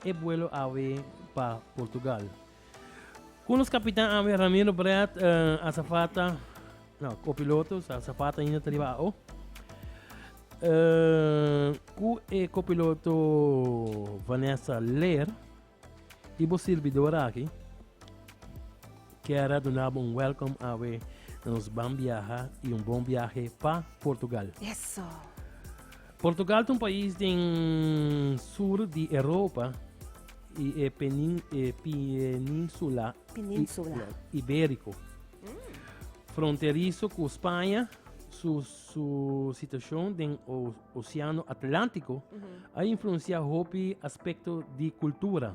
E buelo awe pa Portugal. Ku nos kapitan awe Ramiro Brett asafata, no, kopiloto sa asafata ainda ta riba ao. ku e kopiloto Vanessa Leer i bo sirbidora aki. Kier a dunabo un welcome awe na nos ban biaha y un bon biahe pa Portugal. Eso. Portugal ta un pais den sur di Europa y e penin e peninsula Peninsula. iberico. Fronterizo cu Spanja, su su situacion den o oceano Atlantico a influencia hopi aspecto di cultura.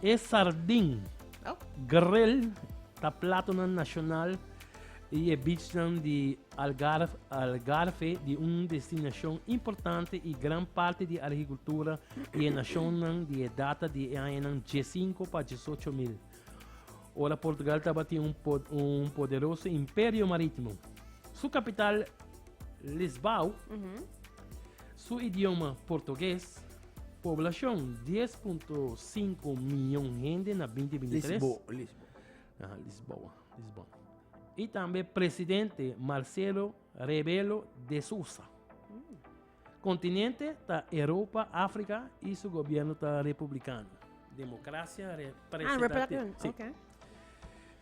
E sardin grel ta platonan nacional di e beachnan di Algarve, di un destinacion importante y gran parti di arhicultura di e nacionnan di e data di e añanan diesinco pa diesocho mil, ora Portugal tabatin un poderoso imperio maritimo. Su capital Lisbao, su idioma portugues, Poblacion, dies punto sinku miyon hende na binti binti tres. Lisboa, Lisboa. Aha, Lisboa, Lisboa. I tambe presidente Marcelo Rebelo de Sousa. Kontinente ta Europa, Afrika i su gobierno ta republikano. Demokrasia Ah, representativo. representative. Sí. Ok.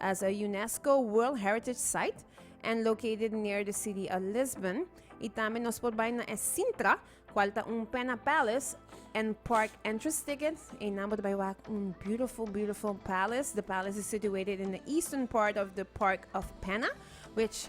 as a UNESCO World Heritage Site and located near the city of Lisbon. Y tambe nos por bai na e Sintra, cual ta un Pena Palace and Park entrance ticket. Y nan por bai wak un beautiful, beautiful palace. The palace is situated in the eastern part of the Park of Pena, which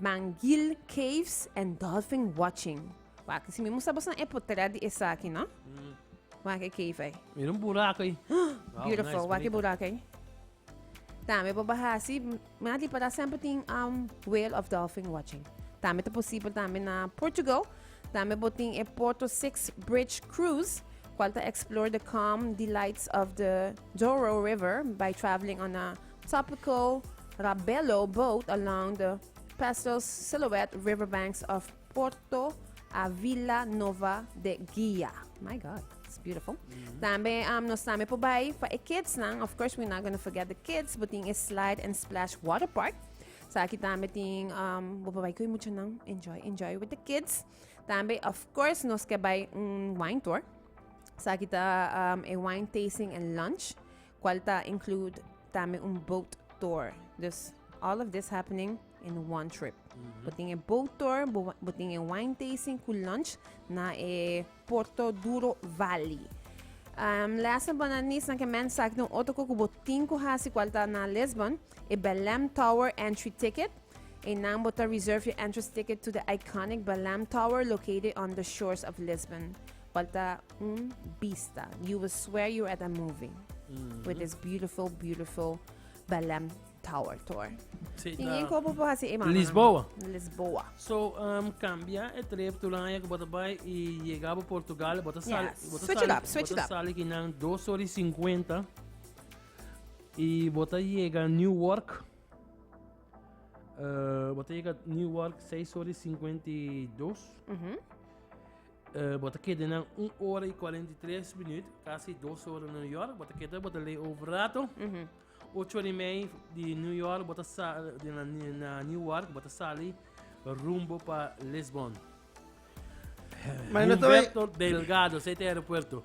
Manguil Caves and Dolphin Watching. Wak, si mi moestra boso nan e potrèt di esaki, no? Wak e cave ei. Mira un burak ei. Wow, nice, Beautiful. Wak e bonito. burak ei. Tambe por baha hasi, m- mi a di para semper tin um, whale of dolphin watching. Tambe ta posibel tambe na Portugal. Tambe bo tin e Porto Six Bridge Cruise, cual ta explore the calm delights of the Douro River by traveling on a Topico, Rabello boat along the Pastels Silhouette riverbanks of Porto a Vila Nova de Guia. My God, it's beautiful. Tambe um, nos tambe por bai pa e kidsnan. Of course, we're not gonna forget the kids, but tin e Slide and Splash Water Park. So aquí tambe tin, um, bo por bai kui mucho nan. Enjoy, enjoy with the kids. Tambe, of course, nos ke bai un wine tour. So aquí ta um, e wine tasting and lunch. cual ta include tambe un boat tour. Dus all of this happening in one trip. Bo tin e boat tour, bo, wa- bo tin e wine tasting cu lunch na e Porto Duro Valley. Um, last but not least, na ke men sak den otro cu cu bo tin cu hasi cual ta na Lisbon, e Belem Tower entry ticket. E nan bo ta reserve your entrance ticket to the iconic Belem Tower located on the shores of Lisbon. Falta un bista. You will swear you're at a movie. With this beautiful, beautiful Belém Tower Tour. Sí, Sin da- inkopo po hasi e mano. Lisboa. no. Lisboa. So, um, cambia e trip tu lanja que bota bay y llega a Portugal, bota sal, Yes. bota Switch it sal- up, switch bota it up. sal aquí nan 2 horas y 50 y bota llega a Newark. Uh, bota llega a Newark 6 horas y 52 Mhm. Bo ta keda nan un ora i kuarenta i tres minüt, kasi dos ora na New York. Bo ta keda, bo ta layover rato. Ocho ora i mei di New York, bo ta sa-, di na, na Newark, bo ta sali rumbo pa Lisbòn. Humberto Delgado, sa e ta e aeropuerto.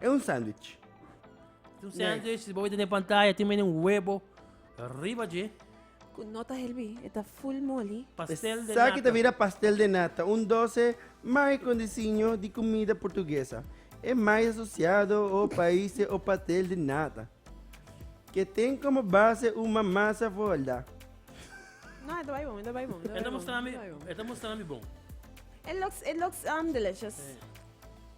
E un sandwich. Tin un sandwich, si bo wet den e pantaya tin menen un webo riba dje. Cu no ta helbi, e ta full moli. Pastel de nata. Esaki ta bira pastel de nata, un doce mai con disiño di cumida Purtuguesa. E mai asociado o paise o patel de nata, ke ten como base un mamasa for holdá. No, e ta bai bon, e ta bai bon. E ta mustra mi, e ta mustra mi bon. E looks, e looks delicious.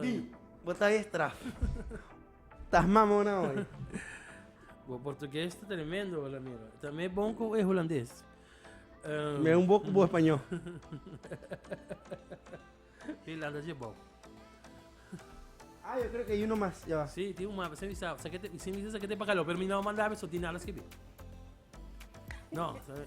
Di, bo ta e straf. Ta mama una hoy. Bo portugues ta tremendo hola mira. Ta me bon cu e hulandes. Um, Me un boku bo español. Finlanda je bon. Ah, yo creo que hay uno más. Ya va. Sí, tiene un mapa. Se visa, se que te, se visa, se que te pagalo. Pero mi no mandaba eso, tiene nada escribir. No, se-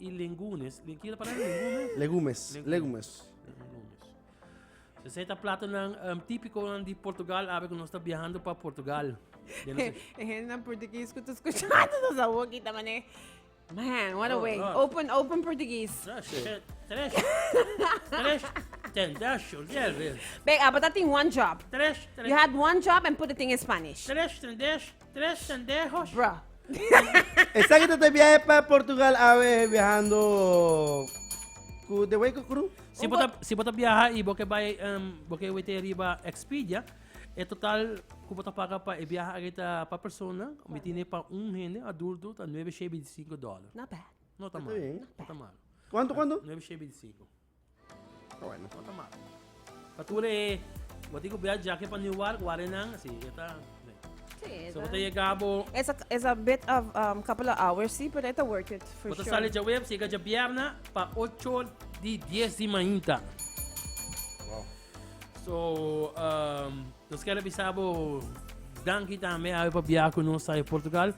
Y lengunes, len kier palabra lengume? Legumes, legumes. Legumes. So esei ta platonan um, típiconan di Portugal, abe que nos está viajando para Portugal. Ya no sé. Ejé, na portugués que tú escuchando, no sa woki, ta mané. Man, what a Oh, way. God. Open, open portugués. Tres, tres, tres, tres, ten, dash, yo, ya, ve. Bek, apa ta tin one job. Tres, tres, You had one job and put it in Spanish. tres, ten, dash, Tres pendejos. Bruh. Esaki ta ta biahe pa Portugal awe biahando ku de way ku kru. Si bo ta si bo ta biaha i bo ke bai um, bo ke wete riba Expedia, e total ku bo ta paga pa e biaha aki ta pa persona, mi tine pa un hende adulto ta nuebe shei binti sinku dòler. Not bad. No ta Está malo. bien. No ta malo. Kuantu kuantu? Nuebe shei binti sinku. Awor no ta mal. Patura e bo tin ku bia jake pa Newark wak den nan si e ta den. Si e ta. Bo ta yega bo. E ta e ta bit of um couple of hours si pero e ta worth it for sure. Bo ta sali dje webs yega dje bierna pa ocho di dies di mainta. Wow. So um nos kere bisa bo danki tambe awe pa bia ku nos ta e Portugal.